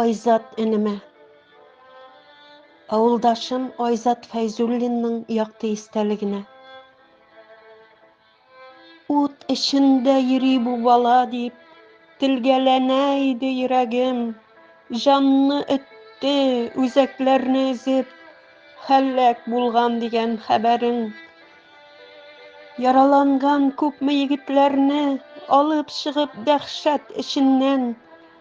Айзат энеме. Авылдашым Айзат Фәйзуллинның якты истәлегенә. Ут эчендә йөри бу бала дип, Телгәләнә иде йөрәгем. Җанны өтте, үзәкләрне өзеп, Һәлак булган дигән хәбәрең. Яраланган күпме егетләрне, Алып чыгып дәһшәт эченнән.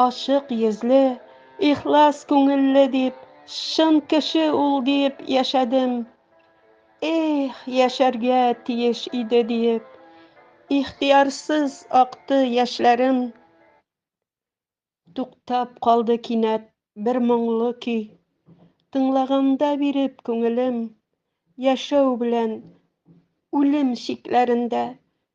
Ачык йөзле, ихлас күңелле дип, чын кеше ул диеп яшәдем. Эх, яшәргә тиеш иде диеп, ихтыярсыз акты яшьләрем. Туктап калды кинәт бер моңлы көй. Тыңлаганда биреп күңелем, яшәү белән үлем чикләрендә